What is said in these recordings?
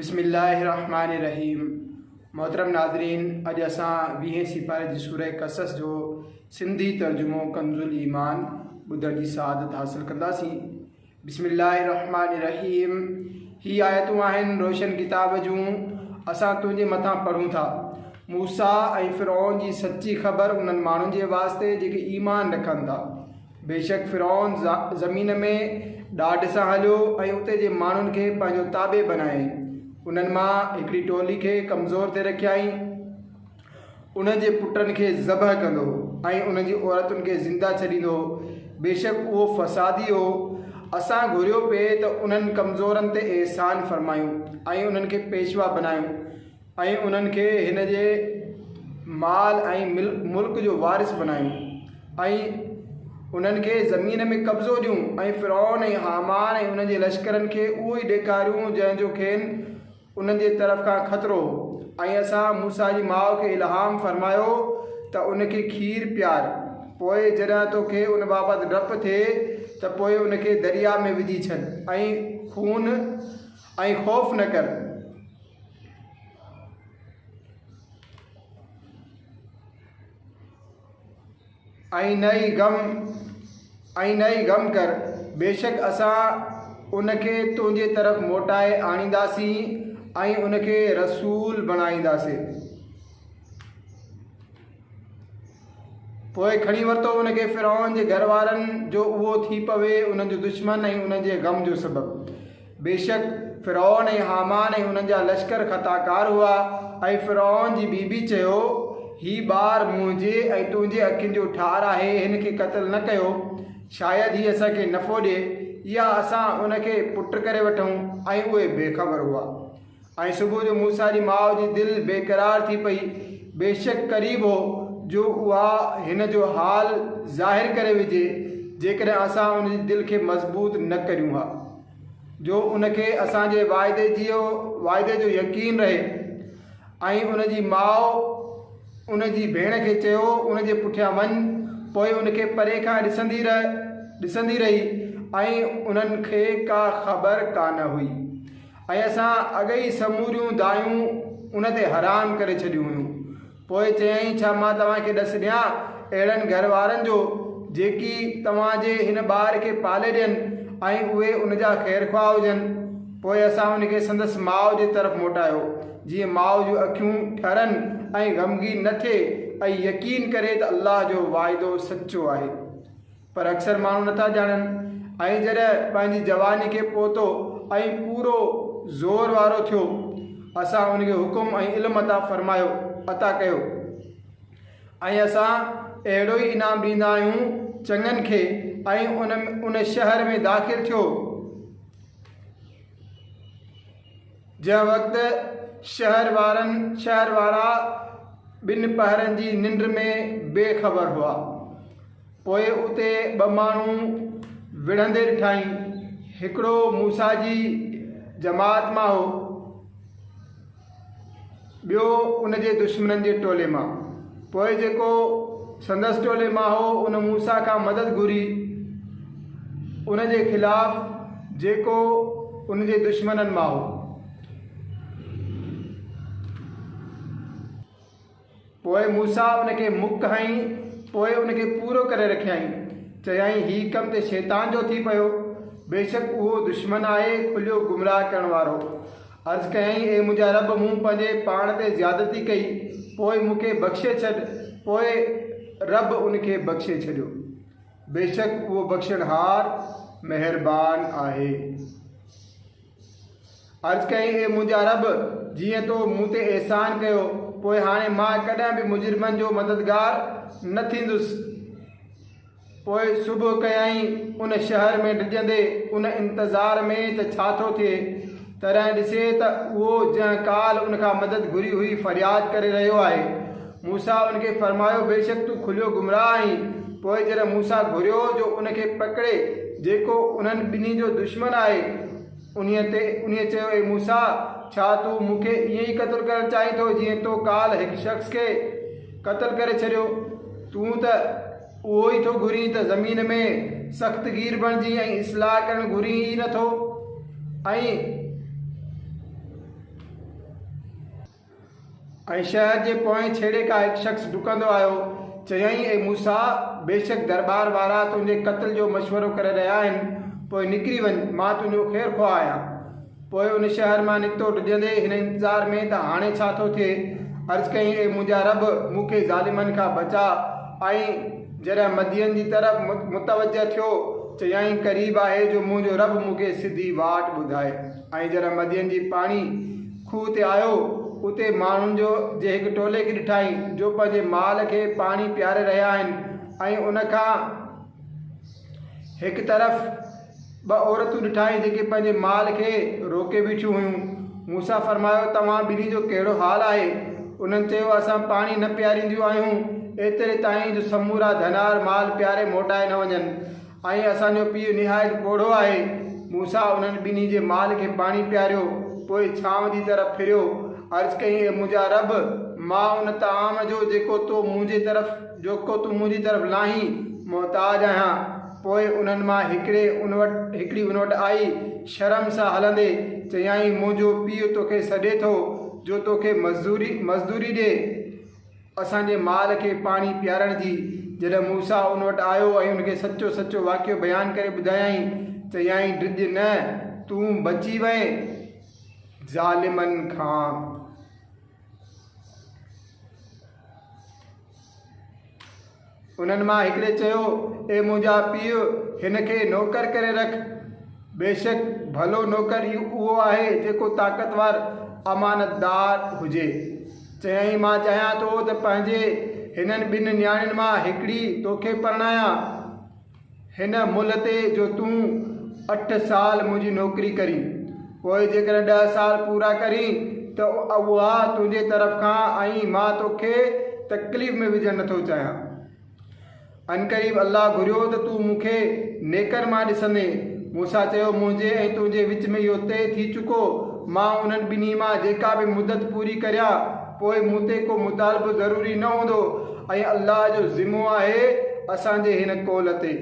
بسم الله الرحمٰن الرحيم محترم ناظرين اڄ اسان ويهين سيپاري جي سورة قصص جو سنڌي ترجمو ڪنز الايمان ٻڌڻ جي سعادت حاصل ڪنداسين بسم الله الرحمٰن الرحيم هي آيتون آهن روشن ڪتاب جون اسان تنهنجي مٿان پڙهون ٿا موسيٰ ۽ فرعون جي سچي خبر انهن ماڻهن جي واسطي جيڪي ايمان رکن ٿا بيشڪ فرعون زمين ۾ ڏاڍ سان هليو ۽ اتي جي ماڻهن کي پنهنجو تابع بنائي انهن مان هڪڙي ٽولي کي ڪمزور تي رکيائين انهن جي پٽن کي ذبح ڪندو ۽ انهن جي عورتن کي زنده ڇڏيندو بيشڪ اهو فسادي هو اسان گهريو پئي ته انهن ڪمزورن تي احسان فرمايون ۽ انهن کي پيشوا بنايون ۽ انهن کي هن جي مال ۽ ملڪ جو وارث بنايون ۽ انهن کي زمين ۾ قبضو ڏيون ۽ فرعون ۽ هامان ۽ انهن جي لشڪرن کي اهو ئي ڏيکاريون جنهن جو کين انهن جي طرف کان خطرو هو ۽ اسان موسيٰ جي ماء کي الهام فرمايو ته ان کي کير پيار پوء جڏهن تو کي ان بابت ڊپ ٿئي ته پوء ان کي درياء ۾ وجهي ڇڏ ۽ خون ۽ خوف نه ڪر. ۽ نه ئي غم ۽ نه ئي غم ڪر، بيشڪ اسان ان کي تنهنجي طرف موٽائي آڻينداسين ۽ ان کي رسول بڻائينداسين. پوء کڻي ورتو ان کي فرعون جي گهر وارن جو اهو ٿي پوي انهن جو دشمن ۽ انهن جي غم جو سبب. بيشڪ فرعون ۽ هامان ۽ انهن جا لشڪر خطا ڪار هئا ۽ فرعون جي بي بي چيو، هي ٻار منهنجي ۽ تنهنجي اکين جو ٺار آهي هن کي قتل نه ڪيو شايد هي اسان کي نفعو ڏئي يا اسان ان کي پٽ ڪري وٺون ۽ اهي بي خبر هئا. ۽ صبح جو موسيٰ جي ماء جي دل بيقرار ٿي پئي، بيشڪ قريب هو جو اها هن جو حال ظاهر ڪري وجهي جيڪڏهن اسان ان جي دل کي مضبوط نه ڪريون ها جو ان کي اسان جي واعدي جي واعدي جو يقين رهي ۽ ان جي ماء ان جي ڀيڻ کي چيو ان جي پٺيان وڃ پوء ان کي پري کان ڏسندي رهه ڏسندي رهي ۽ انهن کي ڪا خبر ڪانه هئي. ۽ اسان اڳ ئي سموريون دانهيون ان تي حرام ڪري ڇڏيون هيون. پوء چيائين، ڇا مان توهان کي ڏس ڏيان اهڙن گهر وارن جو جيڪي توهان جي هن ٻار کي پالي ڏين ۽ اهي ان جا خيرخواهه هجن؟ پوء اسان ان کي سندس ماء جي طرف موٽايو، جيئن ماء جون اکيون ٺرن ۽ غمگين نه ٿئي ۽ يقين ڪري ته الله جو وعدو سچو آهي. پر اڪثر ماڻهو نٿا ڄاڻن ۽ جڏهن پنهنجي جواني کي پهتو ۽ پورو زور وارو ٿيو اسان ان کي حڪم ۽ علم عطا فرمايو، عطا ڪيو، ۽ اسان اهڙو ئي انعام ڏيندا آهيون چڱن کي ۽ ان ان شهر ۾ داخل ٿيو جنهن وقت شهر وارن شهر وارا ٻن پهرن جي ننڊ ۾ بي خبر هئا. پوء اتي ٻه ماڻهو وڙهندي ڏٺائين، هڪڙو موسيٰ جي جماعت مان هو، ٻيو ان جي دشمنن جي ٽولي مان. پوء جيڪو سندس ٽولي مان هو، ان موسيٰ کان مدد گهري، ان جي خلاف جيڪو ان جي دشمنن مان هو. پوء موسيٰ ان کي مڪ هنئي، پوء ان کي پورو ڪري رکيائين. چيائين، هي ڪم ته شيطان جو ٿي پيو، بيشڪ اهو دشمن آهي، کليو گمراهه ڪرڻ وارو. عرض ڪيائين، اي منهنجا رب! مون پنهنجي پاڻ تي زيادتي ڪئي، پوء مون کي بخشي ڇڏ. پوء رب ان کي بخشي ڇڏيو. بيشڪ اهو بخشڻهار مهربان آهي. عرض ڪيائين، اي منهنجا رب! جيئن تو مون تي احسان ڪيو، پوء هاڻي مان ڪڏهن به مجرمن جو مددگار نه ٿيندس. پوء صبح ڪيائين، ان شهر ۾ ڊڄندي، ان انتظار ۾ ته ڇا ٿو ٿئي، تڏهن ڏسي ته اهو جنهن ڪالهه ان کان مدد گهري هئي فرياد ڪري رهيو آهي. موسيٰ ان کي فرمايو، بيشڪ تون کليو گمراهه آهين. پوء جڏهن موسيٰ گهريو هو جو ان کي پڪڙي، جيڪو انهن ٻنهي جو دشمن آهي، انهيء تي انهيء چيو، اي موسيٰ! ڇا تون مون کي ائين ئي قتل ڪرڻ چاهين ٿو جيئن تو ڪالهه هڪ شخص کي قتل ڪري ڇڏيو؟ تون ته اهو ئي ٿو گهرين ته زمين ۾ سخت گير بڻجين ۽ اصلاح ڪرڻ گهرين ئي نٿو ۽ ۽ شهر جي پوئين ڇيڙي کان هڪ شخص ڊڪندو آيو، چيائين، اي موسيٰ! بيشڪ درٻار وارا تنهنجي قتل جو مشورو ڪري رهيا آهن، پوء نڪري وڃ، مان تنهنجو خير خواهه آهيان. پوء ان شهر مان نڪتو، ڊڄندي هن انتظار ۾ ته هاڻي ڇا ٿو ٿئي، عرض ڪيائين، اي منهنجا رب! مون کي ظالمن کان بچاء. ۽ جڏهن مدين جي طرف متوجهه ٿيو، چيائين، قريب آهي جو منهنجو رب مون کي سڌي واٽ ٻڌائي. ۽ جڏهن مدين جي پاڻي. کوهه تي آيو، اتي ماڻهن جو جي هڪ ٽولي کي ڏٺائين، جو پنهنجي مال کي پاڻي پياري رهيا آهن ۽ ان کان هڪ طرف ٻه عورتون ڏٺائين، جيڪي پنهنجي مال کي روڪي بيٺيون هيون. موسيٰ فرمايو، توهان ٻنهي جو ڪهڙو حال آهي؟ انهن چيو، اسان پاڻي نه پيارينديون آهيون، ايتري تائين جو سمورا ڌنار مال پياري موٽائي نه وڃن. آهي، اسان جو پيء نهايت پوڙهو آهي. موسيٰ انهن ٻنهي جي مال کي پاڻي پياريو، پوء ڇانو جي طرف ڦريو، عرض ڪيائين، اي منهنجا رب! مان ان طعام جو جيڪو تو منهنجي طرف جيڪو تون منهنجي طرف لاهين، محتاج آهيان. پوء انهن مان هڪڙي ان وٽ هڪڙي ان وٽ آئي، شرم سان هلندي، چيائين، منهنجو پيء توکي سڏي ٿو، جو توکي مزدوري مزدوري ڏي. اسان جي مال کي پاڻي پيارڻ جي. جڏهن موسيٰ ان وٽ آيو ۽ ان کي سچو سچو واقعو بيان ڪري ٻڌايائين، چيائين، ڊڄ نه، تون بچي وئين ظالمن کان. انهن مان هڪڙي چيو، اي منهنجا پيء! هن کي نوڪر ڪري رک. بيشڪ ڀلو نوڪر ئي اهو آهي جيڪو طاقتور، امانتدار، هجي. چيائين، مان چاهيان ٿو ته پنهنجي هنن ٻن نياڻين مان هڪڙي توکي پرڻايان. هن ملهه تي جو تون اٺ سال منهنجي نوڪري ڪرين، پوء جيڪڏهن ڏهه سال پورا ڪرين ته اها تنهنجي طرف کان ۽ مان توکي تڪليف ۾ وجهڻ نٿو چاهيان. عنقريب الله گهريو ته تون مون کي نيڪن مان ڏسندين. موسيٰ چيو، منهنجي ۽ تنهنجي وچ ۾ اهو طئي ٿي چڪو، مان انهن ٻنهي مان جيڪا به مدت پوري ڪريان، پوء مون تي ڪو مطالبو ضروري نه هوندو ۽ الله جو ذمو آهي اسان جي هن قول تي.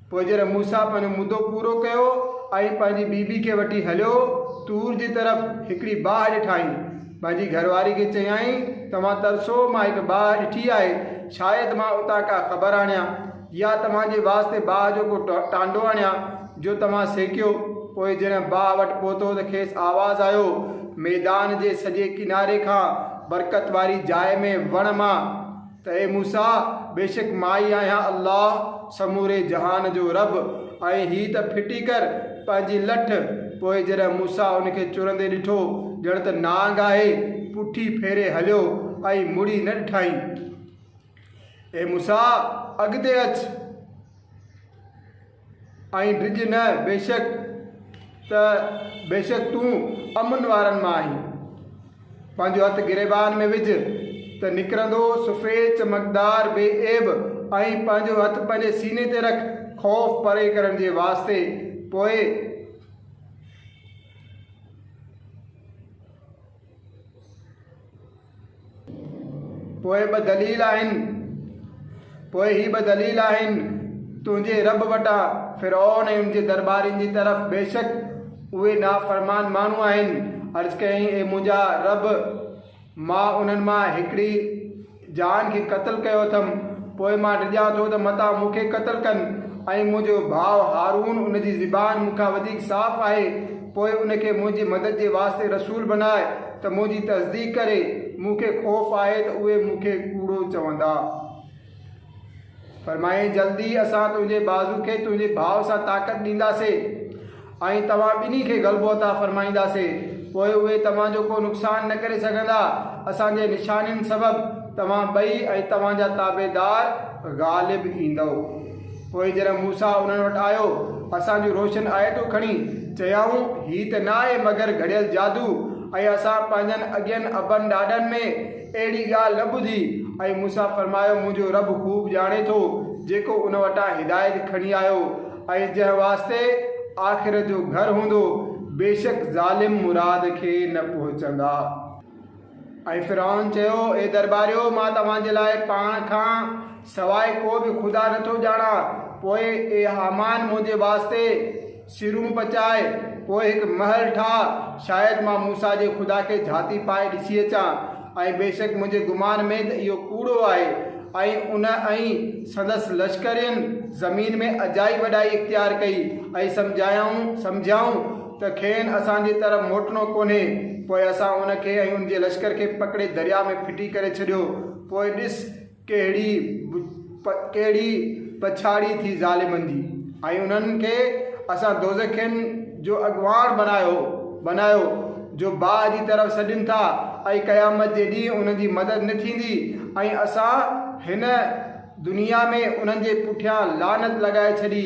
پوء جڏهن موسيٰ پنهنجو مدو پورو ڪيو ۽ پنهنجي بي بي کي وٺي هليو طور جي طرف هڪڙي باهه ڏٺائين. پنهنجي گهر واري کي چيائين، توهان ترسو مان هڪ باهه ڏٺي آهي، شايد مان اتان ڪا خبر آڻيان. يا توهان جي واسطي باهه جو ڪو ٽانڊو آڻيان، جو توهان سيڪيو؟ پوء جڏهن باهه وٽ پهتو ته کيس آواز آيو، ميدان جي سڄي ڪناري کان برڪت واري جاء ۾ وڻ مان، ته اي موسيٰ! بيشڪ مان ئي آهيان الله، سموري جهان جو رب، ۽ هي ته ڦٽي ڪر پنهنجي لٺ. پوء جڏهن موسيٰ ان کي چرندي ڏٺو، ڄڻ ته نانگ آهي، پٺي ڦيري هليو ۽ مڙي نه ڏٺائين. اي موسيٰ! اڳتي اچ ۽ ڊڄ نه، بيشڪ ته بيشڪ تون امن وارن مان آهين. پنهنجو هٿ گريبان ۾ وجهه ته نڪرندو سفيد چمڪدار بي عيب ۽ پنهنجو هٿ پنهنجي سيني تي رک خوف پري ڪرڻ جي واسطي پوء پوء ٻه دليل آهن، پوء هي ٻه دليل آهن، تنهنجي رب وٽان، فرعون ۽ ان جي درٻارين جي طرف، بيشڪ اهي نافرمان ماڻهو آهن، عرض ڪيائين، اي منهنجا رب! مان انهن مان هڪڙي جان کي قتل ڪيو اٿم، پوء مان ڊڄان ٿو ته متان مون کي قتل ڪن ۽ منهنجو ڀاء هارون، ان جي زبان مون کان وڌيڪ صاف آهي، پوء ان کي منهنجي مدد جي واسطي رسول بناء ته منهنجي تصديق ڪري، مون کي خوف آهي ته اهي مون کي ڪوڙو چوندا. فرمايائين، جلد ئي اسان تنهنجي بازو کي تنهنجي ڀاء سان طاقت ڏينداسين ۽ توهان ٻنهي کي غلبو عطا فرمائينداسين، پوء اهي توهان جو ڪو نقصان نه ڪري سگهندا، اسان جي نشانين سبب توهان ٻئي ۽ توهان جا تابعدار غالب ايندؤ. پوء جڏهن موسيٰ انهن وٽ آيو، اسان جون روشن آيتون کڻي، چيائون، هي ته نه آهي مگر گهڙيل جادو ۽ اسان پنهنجن اڳين ابن ڏاڏن ۾، اهڙي ڳالهه نه ٻڌي ۽ مون سان فرمايو، منهنجو رب خوب ڄاڻي ٿو جيڪو ان وٽان هدايت کڻي آيو ۽ جنهن واسطي آخرت جو گهر هوندو، بيشڪ ظالم مراد کي نه پهچندا. ۽ فرعون چيو، اي درٻاريو! مان توهان جي لاء پاڻ کان سواء ڪو به خدا نه ٿو ڄاڻان، پوء اي هامان منهنجي واسطي سرون پچائي، پوء هڪ محل ٺاهه، شايد مان موسيٰ جي خدا کي جهاتي پائي ڏسي اچان، ۽ بيشڪ منهنجي گمان ۾ ته اهو ڪوڙو آهي، ۽ ان ۽ سندس لشڪرين زمين ۾ اجائي وڏائي اختيار ڪئي، ۽ سمجهايائون سمجهيائون ته کين اسان جي طرف موٽڻو ڪونهي، پوء اسان ان کي ۽ ان جي لشڪر کي پڪڙي درياء ۾ ڦٽي ڪري ڇڏيو، پوء ڏس! ڪهڙي ڪهڙي پڇاڙي ٿي ظالمن جي ۽ انهن کي اسان دوزخين جو اڳواڻ بنايو بنايو جو باهه جي طرف سڏين ٿا ۽ قيامت جي ڏينهن انهن جي مدد نه ٿيندي ۽ اسان هن دنيا ۾ انهن جي پٺيان لعنت لڳائي ڇڏي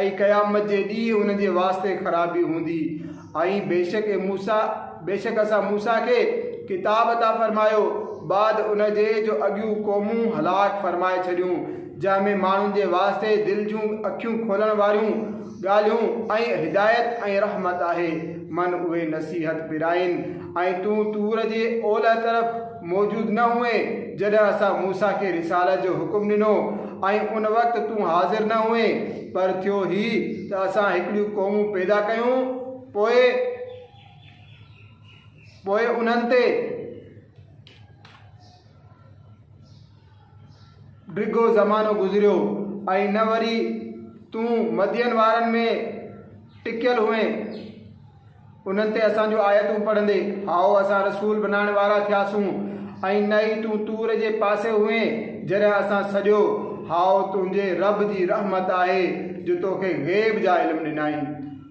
۽ قيامت جي ڏينهن انهن جي واسطي خرابي هوندي ۽ بيشڪ اي موسيٰ! بيشڪ اسان موسيٰ کي، ڪتاب عطا فرمايو، بعد ان جي جو اڳيون قومون هلاڪ فرمائي ڇڏيون، جنهن ۾ ماڻهن جي واسطي دل جون اکيون کولڻ واريون ڳالهيون ۽ هدايت ۽ رحمت آهي، من اهي نصيحت پرائين، ۽ تون طور جي اولهه طرف، موجود نه هئين جڏهن اسان موسيٰ کي رسالت جو حڪم ڏنو ۽ ان وقت تون حاضر نه هئين، پر ٿيو هي ته اسان هڪڙيون قومون پيدا ڪيون پوء پوء انهن تي. ڊگهو زمانو گذريو ۽ نه وري تون مدين وارن ۾ ٽڪيل هئين، انهن تي اسان جون آيتون پڙهندي، هائو، اسان رسول بنائڻ وارا ٿياسون ۽ نه ئي تون طور جي پاسي هئين جڏهن اسان سڏيو، هائو، تنهنجي رب جي رحمت آهي جو توکي غيب جا علم ڏنائين.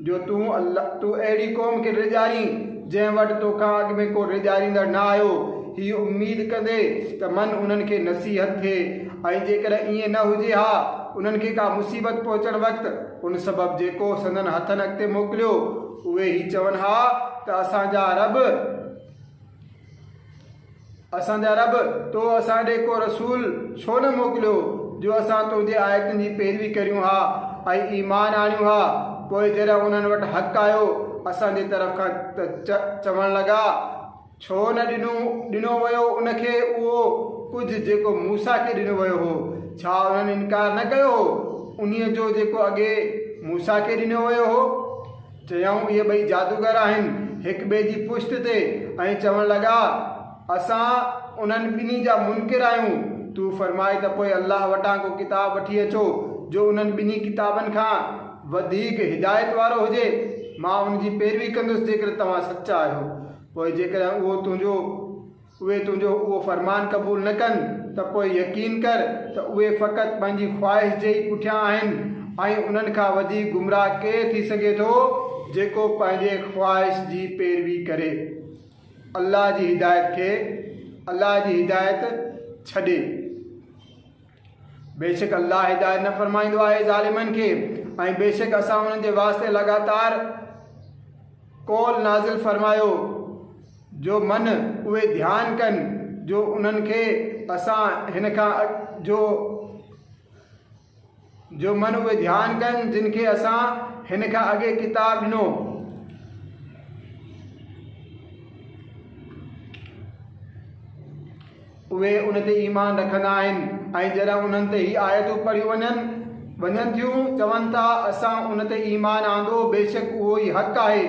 جو تون الله تون اهڙي قوم کي ڊيڄارين، جنهن وٽ تو کان اڳ ۾ ڪو ڊيڄاريندڙ نه آيو. هي اميد ڪندي ته من انهن کي نصيحت ٿئي ۽ جيڪڏهن ائين نه هجي ها، انهن کي ڪا مصيبت پهچڻ وقت، ان سبب جيڪو سندن هٿن اڳتي موڪليو، اهي هي چون ها ته اسان جا رب! اسان جا رب! تو اسان ڏي ڪو رسول ڇو نه موڪليو جو اسان تنهنجي آيتن جي پيروي ڪريون ها ۽ ايمان آڻيون ها. پوء جڏهن انهن وٽ حق آيو اسان جي طرف کان ته چوڻ لڳا، ڇو نه ڏنو ڏنو ويو ان کي اهو ڪجهه جيڪو موسيٰ کي ڏنو ويو هو، ڇا انهن انڪار نه ڪيو هو انهيء جو جيڪو اڳي موسيٰ کي ڏنو ويو هو؟ چيائون، اهي ٻئي جادوگر آهن. هڪ ٻئي جي پشت تي ۽ چوڻ لڳا، اسان انهن ٻنهي جا منڪر آهيون. تون فرماء ته پوء الله وٽان ڪو ڪتاب وٺي اچو جو انهن ٻنهي ڪتابن کان وڌيڪ هدايت وارو هجي. مان ان جي پيروي ڪندس جيڪڏهن توهان سچا آهيو. پوء جيڪڏهن اهو تنهنجو. اهي تنهنجو اهو فرمان قبول نه ڪن ته پوء يقين ڪر ته اهي فقط پنهنجي خواهش جي ئي پٺيان آهن ۽ انهن کان وڌيڪ گمراهه ڪير ٿي سگهي ٿو جيڪو پنهنجي خواهش جي پيروي ڪري الله جي هدايت کي الله جي هدايت ڇڏي. بيشڪ الله هدايت نه فرمائيندو آهي ظالمن کي ۽ بيشڪ اسان انهن جي واسطي لڳاتار قول نازل فرمايو جو من اهي ڌيان ڪن جو انهن کي اسان هن کان جو جو من اهي ڌيان ڪن جن کي اسان هن کان اڳي ڪتاب ڏنو اهي ان تي ايمان رکندا آهن ۽ جڏهن انهن تي هي آيتون پڙهيون وڃن ٿيون، چون ٿا، اسان ان تي ايمان آندو، بيشڪ اهو ئي حق آهي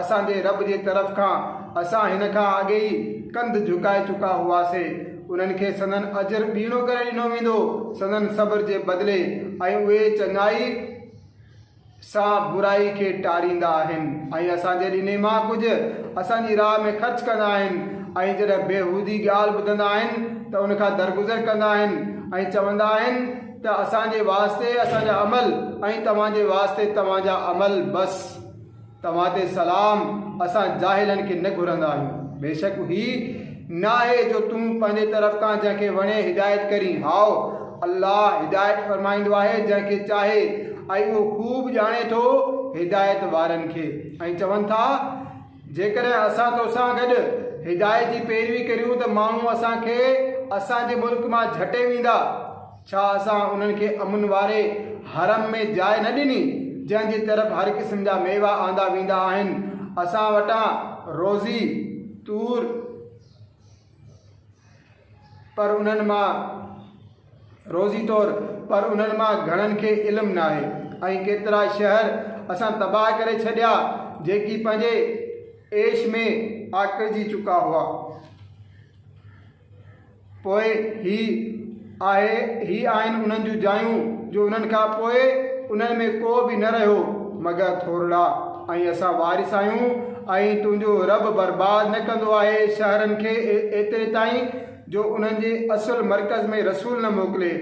اسان جي رب جي طرف کان، اسان هن کان اڳي ئي ڪنڌ جهڪائي چڪا هئاسين. انهن کي سندن اجر ٻيڻو ڪري ڏنو ويندو، سندن صبر جي بدلي، ۽ اهي چڱائي. سان برائي کي ٽاريندا آهن ۽ اسان جي ڏني مان ڪجهه اسان جي راهه ۾ خرچ ڪندا آهن ۽ جڏهن بيهودي ڳالهه ٻڌندا آهن ته ان کان درگذر ڪندا آهن ۽ چوندا آهن ته اسان جي واسطي اسان جا عمل ۽ توهان جي واسطي توهان جا عمل بس توهان تي سلام، اسان جاهلن کي نه گهرندا آهيون. بيشڪ هي ناهي جو تون پنهنجي طرف کان جنهن کي وڻين هدايت ڪرين. هائو، الله هدايت فرمائيندو آهي جنهن کي چاهي ۽ اهو خوب ڄاڻي ٿو هدايت وارن کي. ۽ چون ٿا، جيڪڏهن اسان تو سان گڏ هدايت جي پيروي ڪريون ته ماڻهو اسان کي اسان جي ملڪ مان جهٽي ويندا. ڇا اسان انهن کي امن واري حرم ۾ جاء نه ڏني، جنهن جي طرف هر قسم جا ميوا آندا ويندا آهن؟ اسان وٽان روزي، طور، پر انهن مان، روزي طور، پر انهن مان گهڻن کي علم ناهي ۽ ڪيترا شهر اسان تباهه ڪري ڇڏيا، جيڪي پنهنجي عيش ۾ آڪڙجي چڪا هئا. پوء هي آهي، هي آهن انهن جون جايون جو انهن کان پوء انهن ۾ ڪو به نه رهيو مگر ٿورڙا ۽ اسان وارث آهيون ۽ تنهنجو رب برباد نه ڪندو آهي شهرن کي ايتري تائين جو انهن جي اصل مرڪز ۾ رسول نه موڪلي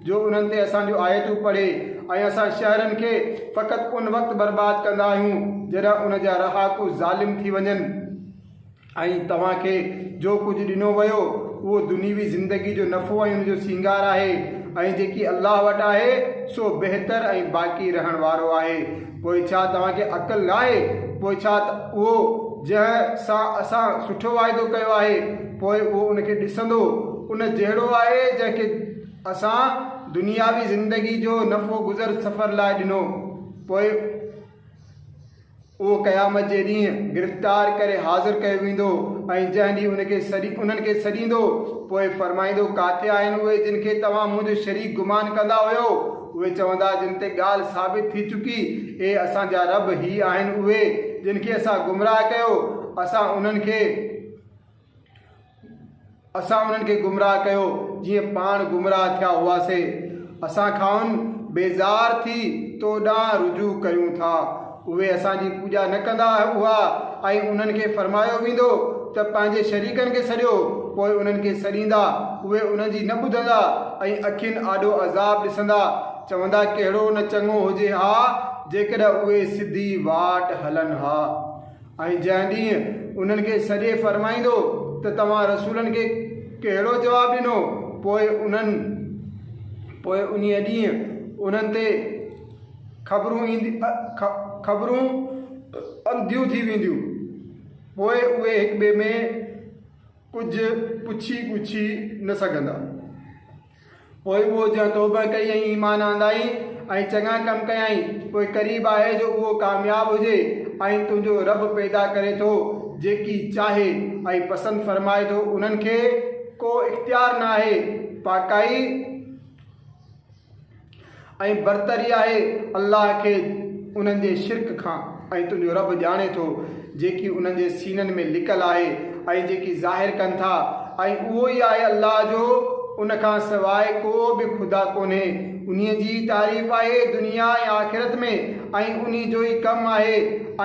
جو انهن تي اسان جون آيتون پڙهي ۽ اسان شهرن کي فقط ان وقت برباد ڪندا آهيون جڏهن ان جا رهاڪو ظالم ٿي وڃن. ۽ توهان کي جو ڪجهه ڏنو ويو اهو دنيوي زندگي جو نفعو ۽ ان جو سينگار آهي ۽ جيڪي الله وٽ آهي سو بهتر ۽ باقي رهڻ وارو آهي پوء ڇا توهان کي عقل ناهي پوء ڇا ته اهو جنهن سان اسان سٺو واعدو ڪيو آهي پوء اهو ان کي ڏسندو ان جهڙو آهي جنهن کي اسان دنياوي زندگي جو نفعو گذر سفر لاء ڏنو پوء اهو قيامت جي ڏينهن گرفتار ڪري حاضر ڪيو ويندو ۽ جنهن ڏينهن ان کي سڏي انهن کي سڏيندو پوء فرمائيندو، ڪاٿي آهن اهي جن کي توهان منهنجو شريڪ گمان ڪندا هيؤ؟ اهي چوندا جن تي ڳالهه ثابت ٿي چڪي، اي اسان جا رب هي آهن اهي جن کي اسان گمراهه ڪيو، اسان انهن کي. اسان انهن کي گمراهه ڪيو جيئن پاڻ گمراهه ٿيا هئاسين. اسان کانئن بيزار ٿي تو ڏانهن رجوع ڪيون ٿا. اهي اسان جي پوڄا نه ڪندا هئا ۽ انهن کي فرمايو ويندو ته پنهنجي شريڪن کي سڏيو، پوء انهن کي سڏيندا، اهي انهن جي نه ٻڌندا ۽ اکين آڏو عذاب ڏسندا، چوندا ڪهڙو نه چڱو هجي ها جيڪڏهن اهي سڌي واٽ هلن ها. ۽ جنهن ڏينهن انهن کي سڏي فرمائيندو ته توهان رسولن کي ڪهڙو جواب ڏنو پوء انهن پوء انهيء ڏينهن انهن تي خبرون خبرون انڌيون ٿي وينديون پوء اهي هڪ ٻئي ۾ ڪجهه پڇي ڳڇي نه سگهندا. پوء اهو جنهن توبهه ڪئي ۽ ايمان آندائين ۽ چڱا ڪم ڪيائين، پوء قريب آهي جو اهو ڪامياب هجي ۽ تنهنجو رب پيدا ڪري ٿو جيڪي چاهي ۽ پسند فرمائي ٿو انهن کي ڪو اختيار ناهي پاڪائي ۽ برتري آهي الله کي انهن جي شرڪ کان ۽ تنهنجو رب ڄاڻي ٿو جيڪي انهن جي سينن ۾ لڪل آهي ۽ جيڪي ظاهر ڪن ٿا ۽ اهو ئي آهي الله جو ان کان سواء ڪو به خدا ڪونهي انهي جي ئي تعريف آهي دنيا ۽ آخرت ۾ ۽ انهي جو ئي ڪم آهي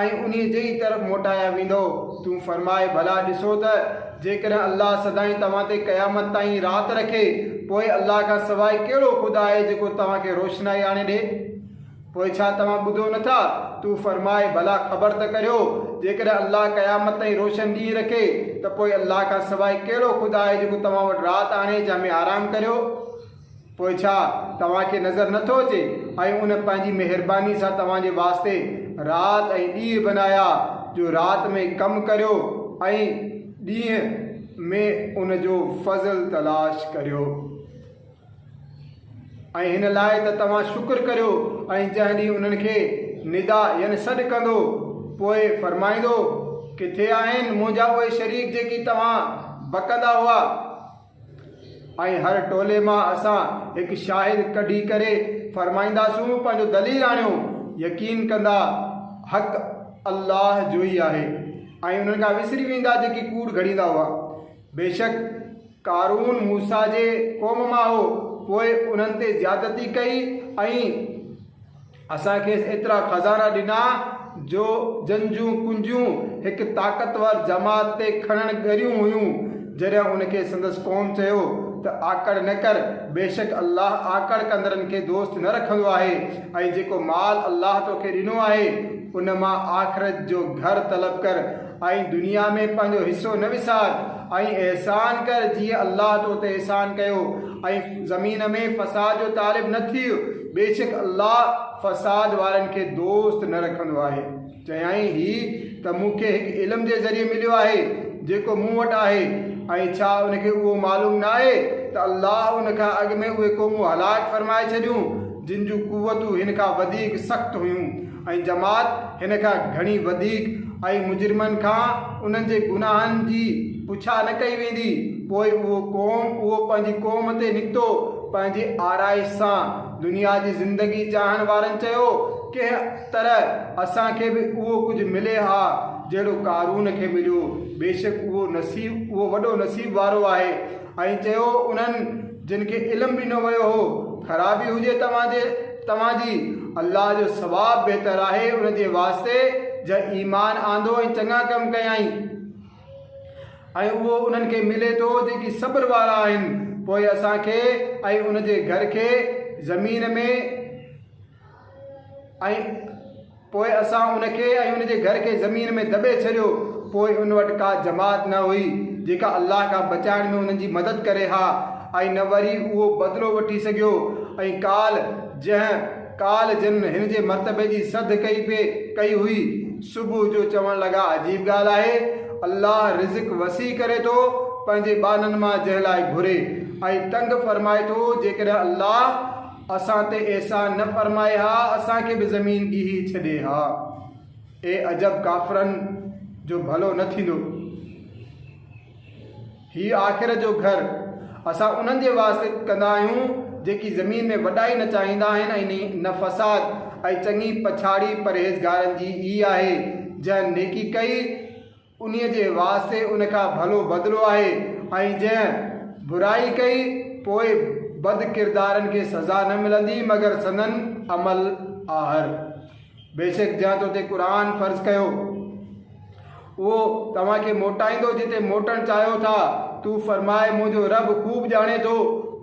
۽ انهي جي ئي طرف موٽايا ويندؤ تون فرماء ڀلا ڏسو ته جيڪڏهن الله سدائين توهان تي قيامت تائين رات رکي، پوء الله کان سواء ڪهڙو خدا آهي جيڪو توهان کي روشنائي آڻي ڏئي؟ پوء ڇا توهان ٻڌو نه ٿا؟ تون فرماء، ڀلا خبر ته ڪريو، جيڪڏهن الله قيامت تائين روشن ڏينهن رکي ته پوء الله کان سواء ڪهڙو خدا آهي جيڪو توهان وٽ رات آڻي جنهن ۾ آرام ڪريو؟ پوء ڇا توهان کي نظر نه ٿو اچي؟ ۽ ان پنهنجي مهرباني سان توهان جي واسطي رات ۽ ڏينهن بنايا، جو رات ۾ ڪم ڪريو ۽ ڏينهن ۾ ان جو فضل تلاش ڪريو. ۽ هن لاء ته توهان شڪر ڪريو ۽ جنهن ڏينهن انهن کي ندا، يعني سڏ، ڪندو، پوء فرمائيندو، ڪٿي آهن منهنجا اهي شريڪ جيڪي توهان بکندا هئا؟ ۽ هر ٽولي مان اسان هڪ شاهد ڪڍي ڪري فرمائينداسون پنهنجو دليل آڻيو يقين ڪندا حق الله جو ئي آهي ۽ انهن کان وسري ويندا جيڪي ڪوڙ گهڙيندا هئا بيشڪ قارون موسيٰ جي قوم مان هو پوء انهن تي زيادتي ڪئي ۽ اسان کيس ايترا خزانا ڏنا جو جن جون ڪنجيون هڪ طاقتور جماعت تي کڻڻ ڳريون هيون. جڏهن ان کي سندس قوم چيو ته آڪڙ نه ڪر، بيشڪ الله آڪڙ ڪندڙن کي دوست نه رکندو آهي ۽ جيڪو مال الله توکي ڏنو آهي ان مان آخرت جو گهر طلب ڪر ۽ دنيا ۾ پنهنجو حصو نه وسار ۽ احسان ڪر جيئن الله تو تي احسان ڪيو ۽ زمين ۾ فساد جو طالب نه ٿي. بيشڪ الله فساد وارن کي دوست نه رکندو آهي. چيائين، هي ته مون کي هڪ علم جي ذريعي مليو آهي، جيڪو مون وٽ آهي، ۽ ڇا ان کي اهو معلوم نه آهي ته الله ان کان اڳ ۾ اهي قومون هلاڪ فرمائي ڇڏيون، جن جون قوتون هن کان وڌيڪ سخت هيون. ۽ جماعت هن کان گهڻي وڌيڪ ۽ مجرمن کان انهن جي گناهن جي پڇا نه ڪئي ويندي، پوء اهو قوم اهو پنهنجي قوم تي نڪتو پنهنجي آرائش سان دنيا جي زندگي چاهڻ وارن چيو، ڪنهن طرح اسان کي به اهو ڪجهه ملي ها جهڙو قارون کي مليو، بيشڪ اهو نصيب اهو وڏو نصيب وارو آهي. ائين چيو انهن جن کي علم ڏنو ويو هو، خرابي هجي توهان جي توهان جي، الله جو ثواب بهتر آهي ان جي واسطي جنهن ايمان آندو ۽ چڱا ڪم ڪيائين ۽ اهو انهن کي ملي ٿو جيڪي صبر وارا آهن، پوء اسان کي ۽ ان جي گهر کي زمين ۾. ۽ پوء اسان ان کي ۽ ان جي گهر کي زمين ۾ دٻي ڇڏيو، پوء ان وٽ ڪا جماعت نه هئي، جيڪا الله کان بچائڻ ۾ انهن جي مدد ڪري ها، ۽ نه وري اهو بدلو وٺي سگهيو، ۽ ڪالهه جنهن ڪالهه جن هن جي مرتبي جي سڌ ڪئي پئي ڪئي هئي، صبح جو چوڻ لڳا عجيب ڳالهه آهي، الله رزق وسيع ڪري ٿو پنهنجي ٻانهن مان جنهن لاء گهري، ۽ تنگ فرمائي ٿو جيڪڏهن الله، اسان تي احسان نه فرمائي ها، اسان کي به زمين ڏيهي ڇڏي ها. اي عجب ڪافرن جو ڀلو نه ٿيندو. هي آخرت جو گهر اسان انهن جي واسطي ڪندا آهيون جيڪي زمين ۾ وڏائي نه چاهيندا آهن ۽ نه فساد ۽ چڱي پڇاڙي پرهيزگارن جي ئي آهي جنهن نيڪي ڪئي انهيء جي واسطي ان کان ڀلو بدلو آهي ۽ جنهن برائي ڪئي، پوء بد ڪردارن کي سزا نه ملندي مگر سندن عمل آهر. بيشڪ جنهن تو تي قرآن فرض ڪيو، اهو توهان کي موٽائيندو جتي موٽڻ چاهيو ٿا، تون فرماء، منهنجو رب خوب ڄاڻي ٿو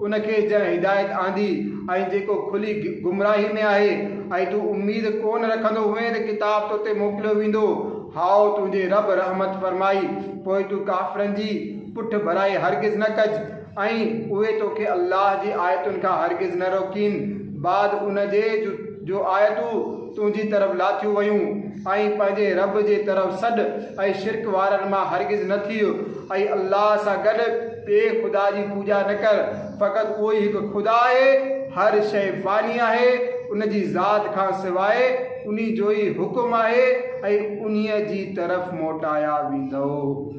ان کي جنهن هدايت آندي ۽ جيڪو کلي گمراهي ۾ آهي ۽ تون اميد ڪونه رکندو هئين ته ڪتاب تو تي موڪليو ويندو، هائو، تنهنجي رب رحمت فرمائي، پوء تون ڪافرن جي پٺڀرائي هرگز نه ڪج، ۽ اهي توکي الله جي آيتن کان هرگز نه روڪين، بعد ان جي جو آيتون تنهنجي طرف لاٿيون ويون، ۽ پنهنجي رب جي طرف سڏ ۽ شرڪ وارن مان هرگز نه ٿيء، ۽ الله سان گڏ ٻئي خدا جي پوڄا نه ڪر. فقط اهو ئي هڪ خدا آهي، هر شيء فاني آهي، ان جي ذات کان سواء انهي جو ئي حڪم آهي ۽ انهيء جي طرف موٽايا ويندؤ.